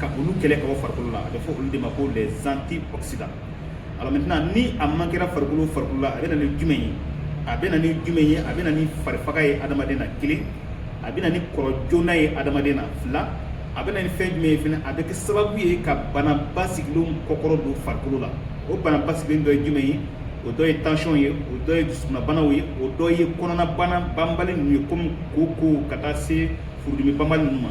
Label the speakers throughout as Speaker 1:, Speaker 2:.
Speaker 1: ka olu kɛlɛ ka bɔ farikolo la a bɛ fɔ olu de ma ko les antioxydants alors maintenant ni a manquera farikolo farikolo la a bɛ na ni jumɛn ye a bɛ na ni jumɛn ye a bɛ na ni farifaga ye adamaden na kelen a bɛ na ni kɔrɔ joona ye adamaden na fila a bɛ na ni fɛn jumɛn ye fana a bɛ kɛ sababu ye ka bana basigilenw kɔkɔrɔ don farikolo la o bana basigilen dɔ ye jumɛn ye o dɔ ye tansiyɔn ye o dɔ ye dusukunnabanaw ye o dɔ ye kɔnɔnabana banbali ninnu ye komi koko ka taa se furudimi banbali ninnu ma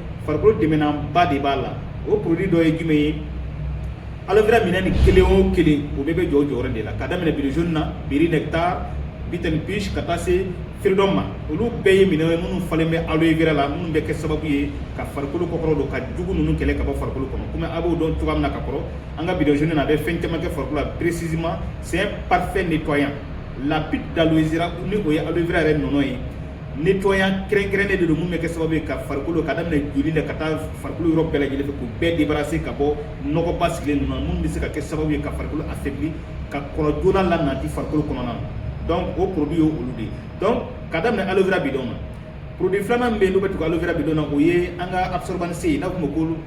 Speaker 1: farikolo dɛmɛnanba de b'a la o produit dɔ ye jumɛn ye aloe vera minɛ ni kelen o kelen o bɛɛ bɛ jɔ jɔyɔrɔ de la ka daminɛ bidon jaune na berry nectar bits n' peaches ka taa se freedom ma olu bɛɛ ye minɛ ye minnu falen bɛ aloe vera la minnu bɛ kɛ sababu ye ka farikolo kɔkɔrɔ don ka jugu ninnu kɛlɛ ka bɔ farikolo kɔnɔ kɔmi a b'o dɔn cogoya min na ka kɔrɔ an ka bidon jaune nin a bɛ fɛn caman kɛ farikolo la précisément c'est un parfait nettoyant la pulpe d'aloe vera ni o ye aloe vera yɛrɛ nɔnɔ ye nettoyant kɛrɛnkɛrɛnnen de don mun bɛ kɛ sababu ye ka farikolo ka daminɛ joli la ka taa farikolo yɔrɔ bɛɛ lajɛlen fɛ k'u bɛɛ débarrasser ka bɔ nɔgɔ basigilen ninnu na minnu bɛ se ka kɛ sababu ye ka farikolo affaiblir ka kɔrɔ joona lanati farikolo kɔnɔna na donc o produit ye olu de ye donc ka daminɛ aloe vera bidon na produit filanan min bɛ yen n'o bɛ tugu aloe vera bidon na o ye an ka absorbant c n'a fɔ o ma ko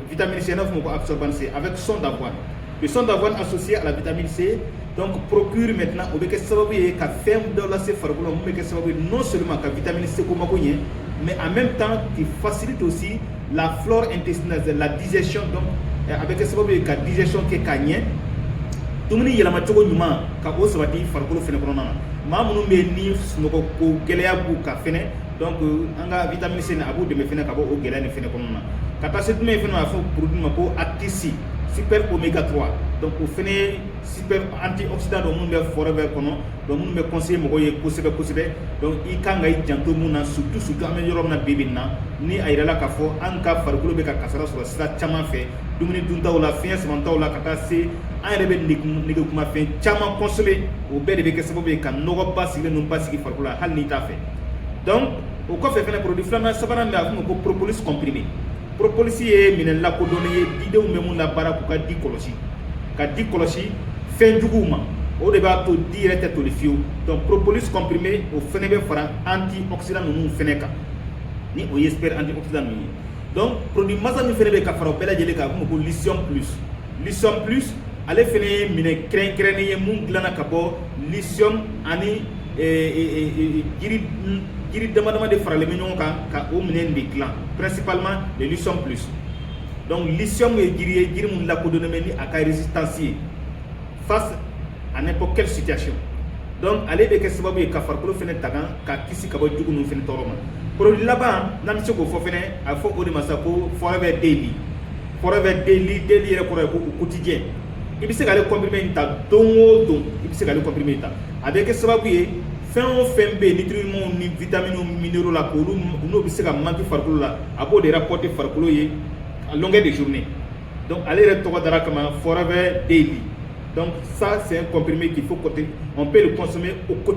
Speaker 1: vitamine c n'a fɔ o ma ko absorbant c avec son d'avoine le son d'avoine associé à la vitamine c donc procure maintenant o bɛ kɛ sababu ye ka fɛn dɔ lase farikolo mun bɛ kɛ sababu ye non seulement ka vitamine C ko mako ɲɛ mais en même temps qui facilite aussi la flore intestinale la digestion donc eh, a bɛ kɛ sababu ye ka digestion kɛ ka ɲɛ dumuni yɛlɛma cogo ɲuman ka o sabati farikolo fɛnɛ kɔnɔna na maa minnu bɛ yen ni sunɔgɔko gɛlɛya b'u kan fɛnɛ donc an ka vitamine C nin a b'u dɛmɛ fɛnɛ ka bɔ o gɛlɛya nin fɛnɛ kɔnɔna na ka taa se jumɛn fɛnɛ ma a fɔ produit ma ko Arctic Sea super omega 3 donc o fɛnɛ super antioxydant don minnu bɛ Forever kɔnɔ donc minnu bɛ conseiller mɔgɔw ye kosɛbɛ kosɛbɛ donc i kan ka i janto mun na surtout surtout an bɛ yɔrɔ min na bi bi in na ni a yirala k'a fɔ an ka farikolo bɛ ka kasara sɔrɔ sira caman fɛ dumuni duntaw la fiɲɛ samantaw la ka taa se an yɛrɛ bɛ negekumafɛn caman consommer o bɛɛ de bɛ kɛ sababu ye ka nɔgɔ basigilen ninnu basigi farikolo la hali n'i t'a fɛ donc o kɔfɛ fɛnɛ produit filanan sabanan bɛ yen a bɛ f'o ma ko propolis comprimé propolis ye minɛ lakodɔnnen ye didenw bɛ mun labaara k'u ka di kɔlɔsi ka di kɔlɔsi fɛn juguw ma o de b'a to di yɛrɛ tɛ toli fiyewu donc propolis comprimé o fɛnɛ bɛ fara antioxydant ninnu fɛnɛ kan ni o ye super antioxydant ninnu ye donc produit masa min fɛnɛ bɛ ka fara o bɛɛ lajɛlen kan a bɛ fɔ ko lycium plus lycium plus ale fɛnɛ ye minɛ kɛrɛnkɛrɛnnen ye mun dilanna ka bɔ lycium ani jiri damadama de faralen bɛ ɲɔgɔn kan ka o minɛn de dilan principalement le lycium plus donc lycium ye jiri ye jiri min lakodɔnnen bɛ ni a ka résistance ye face à n'importe quelle situation donc ale bɛ kɛ sababu ye ka farikolo fɛnɛ tagan ka kisi ka bɔ jugu ninnu fɛnɛ tɔɔrɔ ma produit laban n'an bɛ se k'o fɔ fɛnɛ a fɔ o de ma sa ko forever daily forever daily daily yɛrɛ kɔrɔ ye ko au quotidien i bɛ se k'ale kɔnpirime in ta don o don i bɛ se k'ale kɔnpirime in ta a bɛ kɛ sababu ye fɛn o fɛn bɛ yen ni tirimaw ni vitaminiw minɛnw la k'olu n'o bɛ se ka manki farikolo la a b'o de kɔte farikolo ye a lɔnkɛ de zurun dɔnku ale yɛrɛ tɔgɔ dara kama fɔra bɛ den bi dɔnku sa sen kɔnpme k'i fɔ kɔte ɔ bɛɛ de kɔsɔn o ko